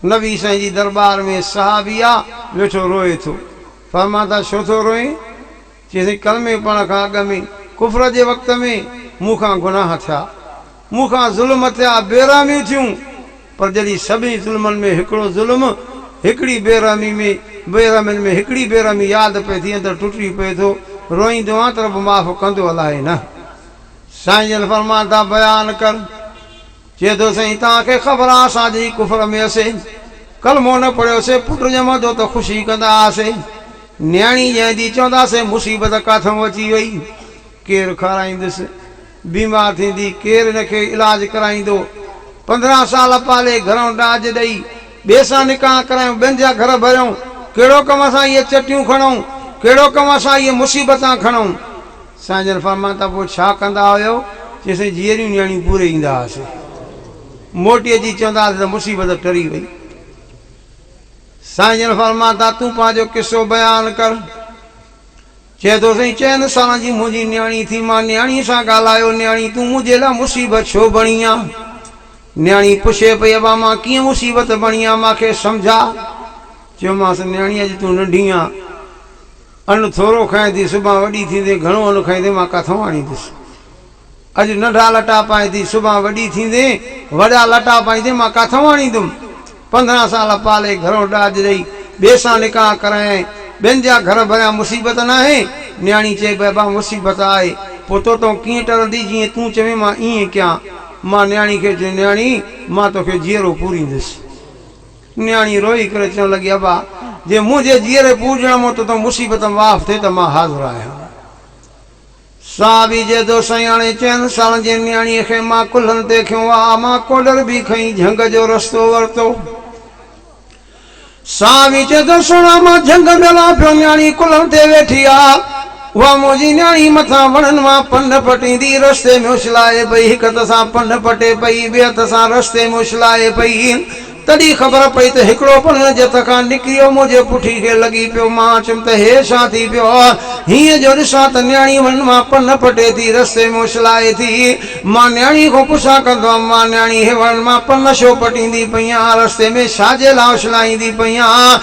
نبي سائين جي درٻار ۾ صحابي آ ويٺو روئي ٿو. فرمان ٿا ڇو ٿو روئين؟ چي سائين ڪلمي پڙهڻ کان اڳ ۾ ڪفر جي وقت ۾ مون کان گناهه ٿيا. مون کان ظلم ٿيا، بي رحميون ٿيون. پر جڏهن سڀني ظلمن ۾ هڪڙو ظلم، هڪڙي بي رحمي ۾ بي رحمين ۾ هڪڙي بي رحمي ياد پئي ٿي اندر ٽٽي پئي ٿو روئيندو آهيان ته رب معاف ڪندو الاهي نه. سائين جن فرمان ٿا بيان ڪر چئي ٿو سائين توهان کي خبر آ اسان اڄ ئي ڪفر ۾ هئسي ڪلمو نه پڙهيو سي پٽ ڄمندو ته خوشي ڪندا هئاسي نياڻي ڄائيندي چوندا سي مصيبت ڪاٿئون اچي وئي ڪير کارائيندس بيمار ٿيندي ڪير ان کي علاج ڪرائيندو پندرهن سال پالي گهرئون ڏاج ڏئي ٻئي سان نڪاح ڪرايون ٻين جا گهر ڀريئون ڪهڙو ڪم اسان اهي چٽيون کڻئون ڪهڙو ڪم اسان اهي مصيبتان کڻئون. سائين جن فرمان ته پوء ڇا ڪندا هيو؟ چيو سائين جيئريون نياڻيون پوري ايندا هئاسين موٽي اچي چوندا هئاسين ته مصيبت ٽري وئي. سائين جن فرمان ته تون پنهنجو قصو بيان ڪر. چئي ٿو سائين چئن سالن جي منهنجي نياڻي ٿي مان نياڻي سان ڳالهايو نياڻي تون منهنجي لاء مصيبت ڇو بڻي آن؟ نياڻي پڇي پئي ابا مان ڪيئن مصيبت بڻي آن مان کي سمجهاء. چيومانس نياڻي اڄ تون ننڍي آن. ان ٿورو کائين ٿي سڀان وڏي ٿيندين گهڻو ان کائيندين مان ڪاٿئون آڻيندس اڄ ننڍا لٽا پائين ٿي سڀان وڏي ٿيندين وڏا لٽا پائيندين مان ڪاٿئون آڻيندم پندرهن سال پالي گهرو ڏاج ڏئي ٻئي سان نڪاح ڪرايائين ٻين جا گهر ڀريا مصيبت ناهي نياڻي چئي بئبا مصيبت آهي پوء توتئون ڪيئن ٽرندي جيئن تون چوين مان ايئن ڪيان مان نياڻي کي چيو نياڻي مان توکي جيئرو پوريندس. نياڻي روئي ڪري چوڻ لڳي، ابا! جي منهنجي جيئري پوڄڻ مان تو تون مصيبت ۾ معاف ٿئي ته مان حاضر آهيان. صحابي جيدو سياڻي چئن سالن جي نياڻيء کي مان ڪلهن تي کنيو آ، مان ڪوڏر به کنئي جهنگ جو رستو ورتو. صحابي چئي ٿو، سهڻا مان جهنگ ۾ هلان پيو، نياڻي ڪلهن تي ويٺي آ، اها منهنجي نياڻي مٿان وڻن مان پن پٽيندي رستي ۾ اڇلائي پئي، هڪ هٿ سان پن پٽي پئي، ٻئي هٿ سان رستي ۾ اڇلائي پئي. تڏهن خبر پئي ته هڪڙو پنڻ جي هٿ کان نڪريو منهنجي پٺي کي لڳي پيو. مان اچيم ته هيء ڇا ٿي پيو آهي؟ هينئن جو ڏسان ته نياڻي ون مان پن پٽي ٿي رستي ۾ اڇلائي ٿي. مان نياڻي کان پڇا ڪندو هئم، مان نياڻي هيء وڻن مان پن ڇو پٽيندي پئي آهين؟ رستي ۾ ڇا جي لاء اڇلائيندي پئي آهين؟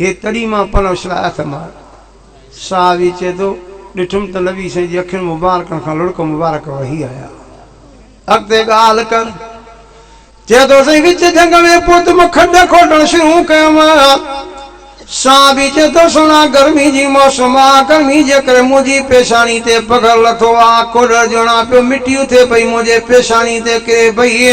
هي تڏهن مان پنهون شل آيا ٿم آيو. صحابي چئي ٿو، ڏٺم ته نبي سائين جي اکين مبارڪن کان لڙڪ مبارڪ وهي آيا. اڳتي ڳالهه ڪر. چئي ٿو، سائين وچ جهنگ ۾ پهت مان کنڊ کوٽڻ شروع ڪيم. صحابي چئي ٿو، سهڻا گرمي جي موسم آ، گرمي جي ڪري منهنجي پيشاني تي پگهر لٿو آ، کوڏر جوڻان پيو مٽي اٿي پئي منهنجي پيشاني تي ڪري پئي،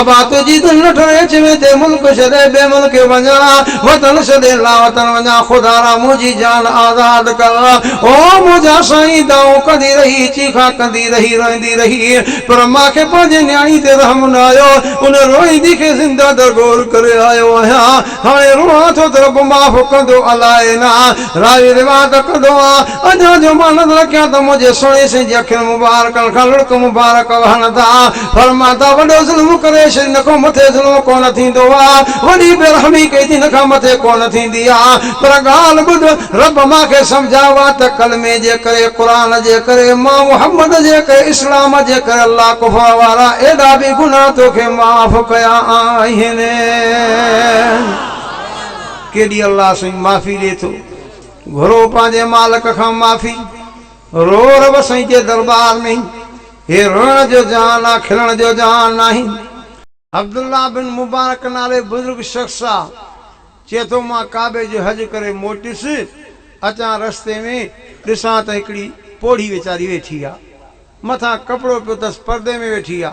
آباد جي دل نه ٺري اچ ۾ تي ملڪ ڇڏي ٻئي ملڪ وڃان وطن ڇڏي لاوطن وڃان خدارا منهنجي جان آزاد ڪر او منهنجا سائين دانهون ڪندي رهي چيخا ڪندي رهي روئيندي رهي پر مان کي پنهنجي نياڻي تي رحم نه آيو ان روئيندي کي زنده درگور ڪري آيو آهيان هاڻي روئان ٿو ته رب معاف ڪندو الاء نه راوي روايت ڪندو آ اجان جو مان نظر رکيان ته منهنجي سهڻي سائين جي اکين مبارڪن کان لڙڪ مبارڪ وهن ٿا فرمان ٿا وڏو ظلم ڪري ڇڏ ان کان مٿي ظلم ڪونه ٿيندو آ وڏي بي رحمي ڪئي ٿي ان کان مٿي ڪونه ٿيندي آ پر ڳالهه ٻڌ رب مان کي سمجهايو آ ته ڪلمي جي ڪري قرآن جي ڪري مان محمد جي ڪري اسلام جي ڪري الله ڪفر وارا ايڏا به گناهه توکي معاف ڪيا آهن. ڪيڏي الله سائين معافي ڏي ٿو گهرو پنهنجي مالڪ کان معافي رو رب سائين جي دربار ۾ هي روئڻ جو جهان آ کلڻ جو جهان ناهي. عبدالله بن مبارڪ نالي بزرگ شخص آ چئي ٿو مان ڪعبي جو حج ڪري موٽيس اچان رستي ۾ ڏسان ته هڪڙي پوڙهي ويچاري ويٺي آ مٿان ڪپڙو پيو ٿس پردي ۾ ويٺي آ.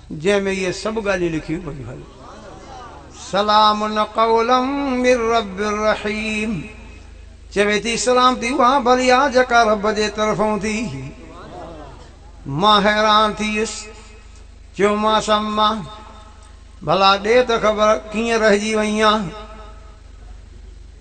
جنهن ۾ اهي سڀ ڳالهيون لکيون پيون هن. سلام قولا من رب رحيم چوي ٿي سلامتي اها ڀلي آهي جيڪا رب جي طرفون ٿي هئي. مان حيران ٿي ويس. چيومانس اما! ڀلا ڏي ته خبر ڪيئن رهجي وئين آهين؟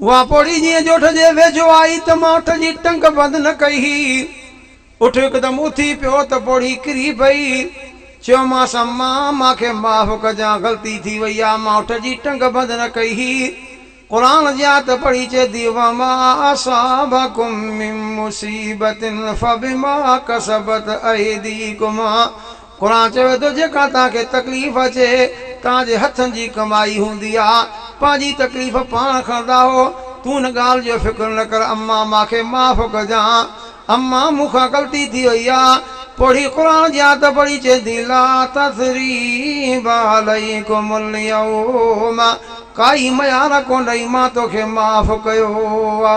اها پوڙهي جيئن ڄوٺ جي ويجهو آئي ته مان اٺ جي ٽنگ بند نه ڪئي هئي. اٺ هڪدم اٿي پيو ته پوڙهي ڪري پئي. چيومانس اما مان کي معاف ڪجان غلطي ٿي وئي آ مان اٺ جي ٽنگ بند نه ڪئي هئي. قرآن جي آيت پڙهي چئي ٿي وما اصابڪم من مصيبت فبما ڪسبت ايديڪم قرآن چوي ٿو جيڪا توهان کي تڪليف اچي توهان جي هٿن جي ڪمائي هوندي آ پنهنجي تڪليف پاڻ کڻندا هو تون ان ڳالهه جو فڪر نه ڪر امان مان کي معاف ڪجان امان مون کان غلطي ٿي وئي آ پوڙهي قرآن جي آيت پڙهي چئي ٿي لا تثريب عليڪم اليوم ڪائي ميار ڪونهي مان توکي معاف ڪيو آ.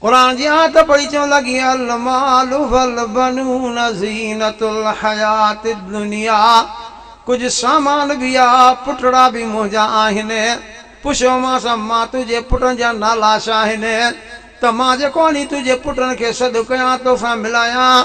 قرآن جي آيت پڙهي چوڻ لڳي، المال والبنون زينة الحياة الدنيا، ڪجهه سامان به آ، پٽڙا به منهنجا آهن، پڇيومانس، مان تنهنجي پٽن جا نالا ڇا آهن، ته مان جيڪو آڻي تنهنجي پٽن کي سڏ ڪيان، توسان ملايان.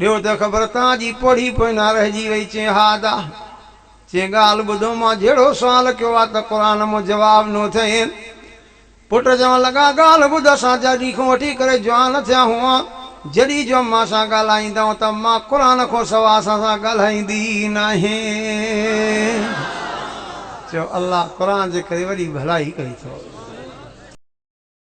ڏيو ته خبر تان جي پڙهي پوئنا رهجي وئي چين ها ادا چين ڳالهه ٻڌو مان جهڙو سوال ڪيو آ ته قرآن مون جواب نو ٿئين پٽ چون لڳا ڳالهه ٻڌ اسان جڏهين کون وٺي ڪري جوان ٿيا هئون جڏهين جو امان سان ڳالهائيندئون ته امان قرآن کون سوا اسان سان ڳالهائيندي ئي ناهين چيو الله قرآن جي ڪري وڏي ڀلائي ڪئي ٿو.